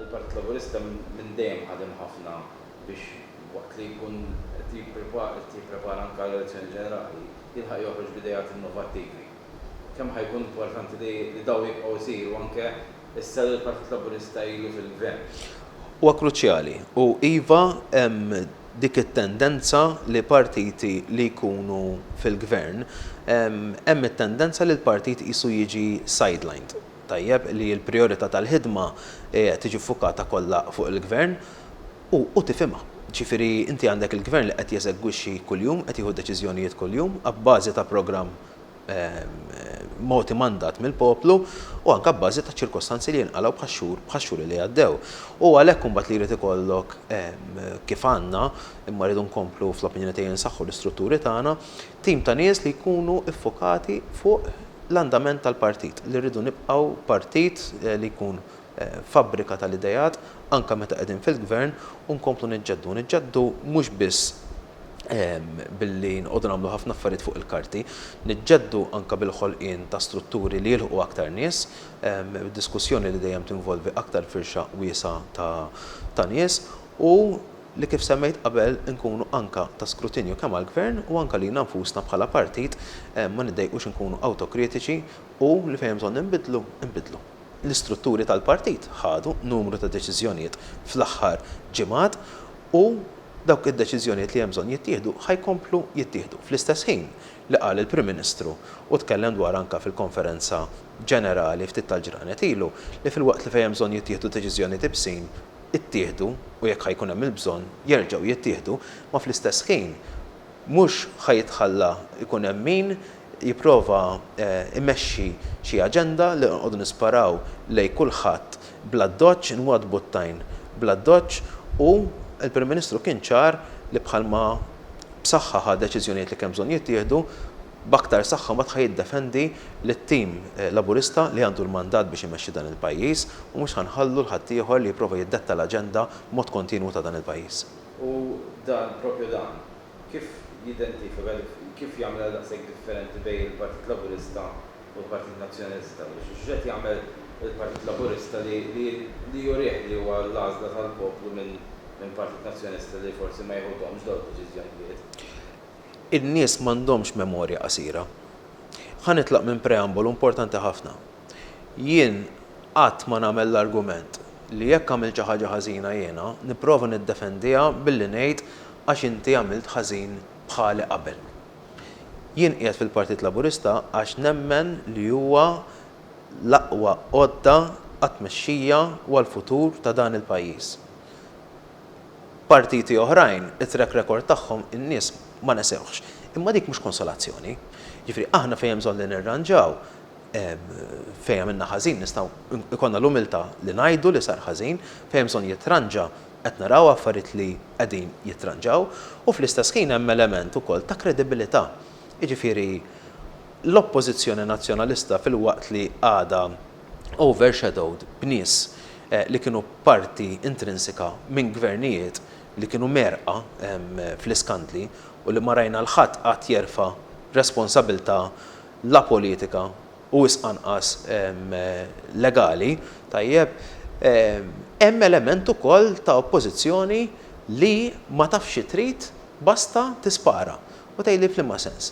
Il-Partit Laburista minn dejjem ħadem ħafna biex waqt li jkun qed jipprepara anke għal elezzjoni ġenerali, jilħaq joħroġ b'ideat innovattivi. Kemm ħa jkun importanti li dawn jibqgħu jsiru anke issa li l-Partit Laburista ilu fil-Gvern? Huwa kruċjali u iva hemm dik it-tendenza li partiti li jkunu fil-Gvern, hemm it-tendenza li l-partit qisu jiġi sidelined, tajjeb, li l-prijorità tal-ħidma tiġi ffukata kollha fuq il-Gvern u u tifhimha. Ġifieri inti għandek il-Gvern li qed jeżegwixxi kuljum, qed jieħu deċiżjonijiet kuljum abbażi ta' programm, mogħti mandat mill-poplu u anke abbażi ta' ċirkostanzi li jinqalgħu bħax-xhur bħax-xhur li għaddew. U għalhekk imbagħad li jrid ikollok kif għandna, imma rridu nkomplu fl-opinjoni tiegħi nsaħħu l-istrutturi tagħna, tim ta' nies li jkunu ffokati fuq l-andament tal-partit, li rridu nibqgħu partit li jkun fabbrika tal-ideat anke meta qegħdin fil-Gvern u nkomplu niġġeddu, niġġeddu mhux biss billi nqogħdu nagħmlu ħafna affarijiet fuq il-karti, niġġeddu anke bil-ħolqien ta' strutturi li jilħqu aktar nies, b'diskussjoni li dejjem tinvolvi aktar firxa wiesgħa ta' nies, u li kif semmejt qabel inkunu anke ta' skrutinju kemm għall-Gvern u anke lilna nfusna bħala partit, ma niddejqux inkunu awtokritiċi u li fejn hemm bżonn inbiddlu, inbiddlu. L-istrutturi tal-partit ħadu numru ta' deċiżjonijiet fl-aħħar ġimgħat u dawk id-deċiżjonijiet li hemm bżonn jittieħdu ħa jkomplu jittieħdu fl-istess ħin li qal il-Prim Ministru u tkellem dwarha anke fil-konferenza ġenerali ftit tal-ġranet ilu li filwaqt li fejn hemm bżonn jittieħdu deċiżjonijiet ibsin ittieħdu u jekk ħa jkun hemm il-bżonn jerġgħu jittieħdu imma fl-istess ħin mhux ħa jitħalla jkun hemm min jipprova jmexxi xi aġenda li nqogħdu nisparaw lejn kulħadd bl-addoċċ, inwaddbu t-tajn bl-addoċċ u l-Prim Ministru kien ċar li bħalma b'saħħa ħa deċiżjonijiet li kien bżonn jittieħdu, b'aktar saħħa mbagħad ħa jiddefendi lit-tim Laburista li għandu l-mandat biex imexxi dan il-pajjiż u mhux ħa nħallu 'l ħaddieħor li jipprova jiddetta l-aġenda b'mod kontinwu ta' dan il-pajjiż. U dan, propju dan, Kif jidentifika, kif jagħmilha daqshekk differenti bejn il-Partit Laburista u l-Partit Nazzjonalista? X'qed jagħmel il-Partit Laburista li jurih li huwa l-għażla tal-poplu minn Partit Nazzjonalista li forsi ma jiħudhomx dawn id-deċiżjonijiet? In-nies m'għandhomx memorja qasira. Ħa nitlaq minn preambolu importanti ħafna. Jien qatt ma nagħmel l-argument li jekk għamilt xi ħaġa ħażina jiena nipprova niddefendiha billi ngħid għax inti għamilt ħażin bħali qabel. Jien qiegħed fil-Partit Laburista għax nemmen li huwa l-aqwa għodda għat-tmexxija u għall-futur ta' dan il-pajjiż. Partiti oħrajn it-track record tagħhom in-nies ma nesewhx. Imma dik mhux konsolazzjoni. Jiġifieri aħna fejn hemm bżonn li nirranġaw, Fejn għamilna ħażin nistgħu jkollna l-umiltà li ngħidu li sar ħażin, fejn hemm bżonn jitranġa qed naraw affarijiet li qegħdin jittranġaw u fl-istess ħin hemm element ukoll ta' kredibilità. Jiġifieri l-Oppożizzjoni Nazzjonalista filwaqt li għadha overshadowed b'nies li kienu parti intrinsika minn gvernijiet li kienu mgħerrqa fl-iskandli u li ma rajna 'l ħadd qatt jerfa' responsabilità la politika u wisq anqas legali, tajjeb, hemm element ukoll ta' oppożizzjoni li ma tafx xi trid basta tispara. U tgħidli f'liema sens?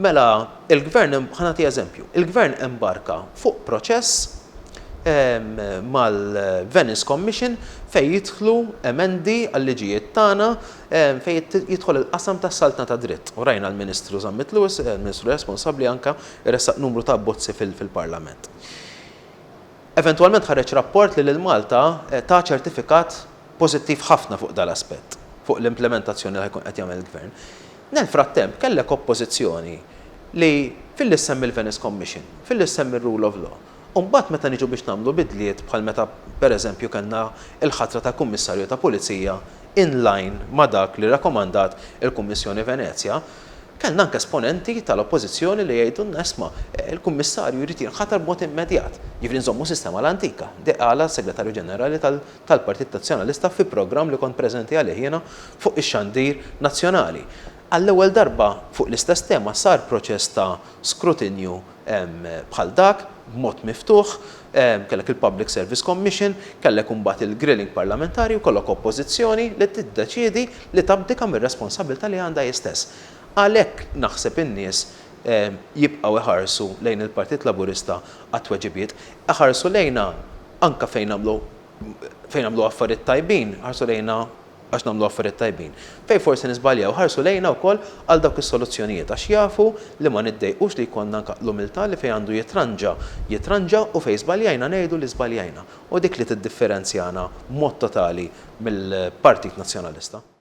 Mela l-Gvern, ħa nagħti eżempju, il-Gvern embarka fuq proċess mal-Venice Commission fejn jidħlu emendi għal-liġijiet tagħna fejn jidħol il-qasam tas-saltna tad-dritt, u rajna l-Ministru Zammit Lewis, il-Ministru responsabbli anke, iressaq numru ta' abbozzi fil-Parlament. Eventwalment ħareġ rapport li lil Malta ta ċertifikat pożittiv ħafna fuq dan l-aspett, fuq l-implimentazzjoni li ħa jkun qed jagħmel il-Gvern. Nel-frattemp kellek Oppożizzjoni li filli ssemmi l-Venice Commission, filli ssemmi r-Rule of Law, U mbagħad meta niġu biex nagħmlu bidliet bħal meta pereżempju kellna l-ħatra ta' Kummissarju ta' Pulizija in line ma' dak li rakomandat il-Kummissjoni Venezja, kellna anke esponenti tal-Oppożizzjoni li jgħidulna isma', il-Kummissarju jrid jinħatar b'mod immedjat, jiġifieri nżommu s-sistema l-antika. Dik qalha s-Segretarju Ġenerali tal-Partit Nazzjonalista fi programm li kont preżenti għalih jiena fuq ix-xandir nazzjonali. Għall-ewwel darba fuq l-istess tema sar proċess ta' skrutinju bħal dak, b'mod miftuħ, kellek il-Public Service Commission, kellek imbagħad il-grilling parlamentari u jkollok Oppożizzjoni li tiddeċiedi li tabdika mir-responsabbiltà li għandha hi stess. Għalhekk naħseb in-nies jibqgħu jħarsu lejn il-Partit Laburista għat-tweġibiet. Ħarsu lejna anke fejn nagħmlu fejn nagħmlu affarijiet tajbin, ħarsu lejna, għax nagħmlu affarijiet tajbin, fejn forsi niżbaljaw, ħarsu lejna wkoll għal dawk is-soluzzjonijiet għax jafu li ma niddejqux li jkollna anke l-umiltà li fejn għandu jitranġa, jitranġa u fejn żbaljajna ngħidu li żbaljajna. U dik li tiddifferenzjana b'mod totali mill-Partit Nazzjonalista.